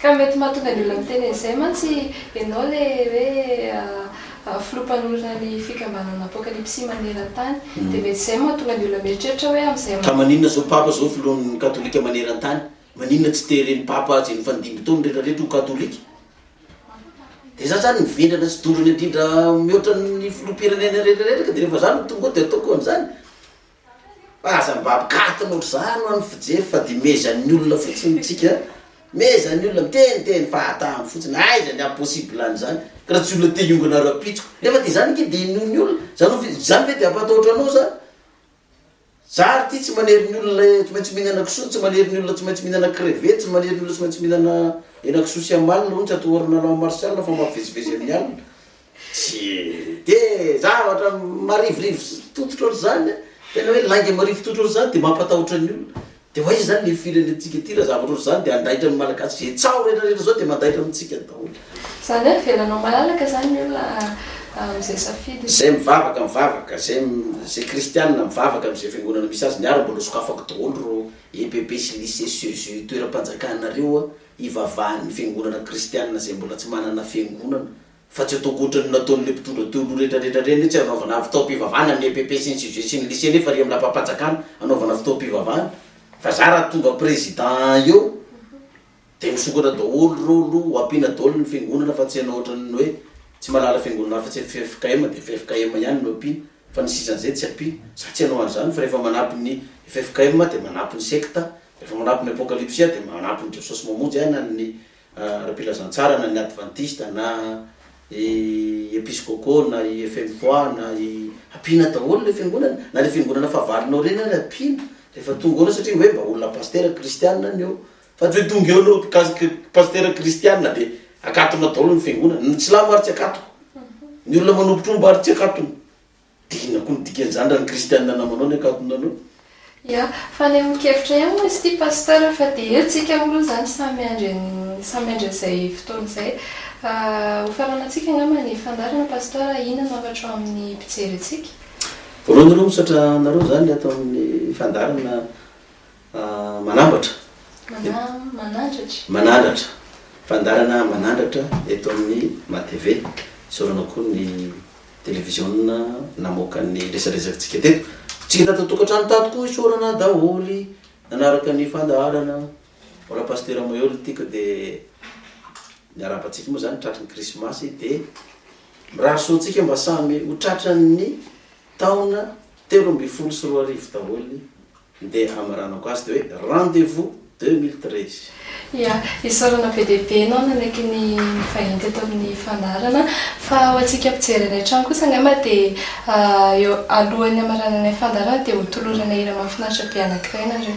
Ka mety mahatonga ny olona miteny an'izay mantsy ianao ilay hoe filoha mpanorina ny fikambanana Apokalipsy maneran-tany. Dia mety izay no mahatonga ny olona mieritreritra hoe amin'izay manaraka. Ka maninona izao Papa izao filohan'ny Katolika maneran-tany? Maninona tsy teren'ny Papa azy nifandimby tao ny rehetra rehetra ho Katolika? Dia izaho izany no vendrana sy dondrona indrindra mihoatra ny filoham-pirenena rehetra rehetra ka dia rehefa izaho no tonga ao dia ataoko an'izany. Fa aza mba mikaty notr'izany ho an'ny fijery fa dia mezan'ny olona fotsiny tsika an! Mezan'ny olona miteniteny fahatany fotsiny, aiza ny impossible an'izany ka raha tsy olona te hiongana rahampitso nefa dia izany ange dia inoan'ny olona, izany hoe izany ve dia hampatahotra anao izany? Za ary ity tsy manery ny olona tsy maintsy mihinana kisoa, tsy manery ny olona tsy maintsy mihinana crevette, tsy manery ny olona tsy maintsy mihinana henakisoa sy amalona hono tsy atahorana lalao martial fa mampivezivezy amin'ny alina, Tsy dia zavatra marivorivo sy tototra ohatr'izany an! Tena hoe lainga marivo tototra ohatr'izany dia mampatahotra ny olona. Dia ho aiza izany ilay firenentsika ity raha zavatra ohatr'izany dia handaitra ny Malagasy? Izay tsaho rehetrarehetra izao dia mandaitra amintsika daholo. Izany hoe avelanao malalaka izany ny olona amin'izay safidiny? Izay mivavaka mivavaka, izay izay kristianina mivavaka amin'izay fiangonana misy azy, ny ahy raha mbola sokafako daholo ireo EPP sy lycée sy eux io toeram-panjakana ireo an, hivavahan'ny fiangonana kristianina izay mbola tsy manana fiangonana. fa tsy atao ankoatran'ny nataon'ireo mpitondra teo aloha rehetra rehetra ireny mihitsy hanaovana ny fitaom-pivavahana ny epp sy ny cgge sy ny lycée nefa ery amin'ny lapam-panjakana hanaovana fitaom-pivavahana fa za raha tonga président eo dia misokatra daholo ireo aloha ho ampiana daholo ny fiangonana fa tsy hanao ohatran'ny hoe tsy mahalala fiangonana hafa tsy ffkm dia ffkm ihany no ampiana fa ny sisan'izay tsy ampiana za tsy hanao an'izany fa rehefa manampy ny ffkm aho dia manampy ny secte rehefa manampy ny apocalypse aho dia manampy ny jesosy mamonjy ahy na ny ara-pilazantsara na ny advantista na i episkôpô na i fmpoa na i ampiana daholo le fiangonana na le fiangonana fahavalonao reny ary ampiana rehefa tonga eo anao satria hoe mba olona pastera kristianina ny eo fa tsy hoe tonga eo anao mpikasika pastera kristianina de akatona daholo ny fiangonana ny silamo ary tsy akatoko ny olona manompotromba ary tsy akatony Dia inona koa ny dikan'izany raha ny kristianina namanao ny ankatonanao? Ia, fanehoan-kevitra ihany moa izy ity Pasteur fa dia eo tsika olona izany samy miandry an'i, samy miandry an'izay fotoana izay. Hofaranantsika angamba ny fandaharana Pasteur a, inona no hafatra ao amin'ny mpijery antsika? Voalohany aloha misaotra anareo izany ato amin'ny fandaharana. Manambatra. Manandratra. Manandratra. Fandaharana Manandratra eto amin'ny MATV. Isaorana koa ny televiziona namoaka ny resadresakantsika teto. Tsika tato an-tokantrano tato koa isaorana daholo nanaraka ny fandaharana. Mbola Pasitera Mahery ity ka dia miarahaba antsika moa izany tratry ny Krismasy dia mirary soa antsika mba samy ho tratran'ny taona telo ambin'ny folo sy roa arivo daholo. Ndeha hamaranako azy de hoe rendez vous deux mille treize. Ya, isaorana be dia be ianao nanaiky ny nivahiny teto amin'ny fandaharana. Fa ho antsika mpijery any an-trano kosa angamba dia eo alohan'ny hamarananay fandaharana dia ho toloranay hira mahafinaritra be anankiray nareo.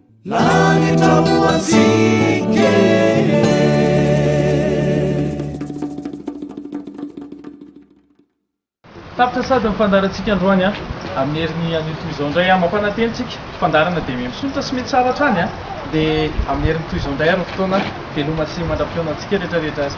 Tapitra sahady ny fandaharantsika androany an! Amin'ny herin'ny anio toy izao indray an! Mampanantena isika fandaharana dia miha misokatra sy miha tsara hatrany an! Dia amin'ny herin'ny toy izao indray ary ny fotoana veloma sy mandra-pihaona antsika rehetra rehetra ary.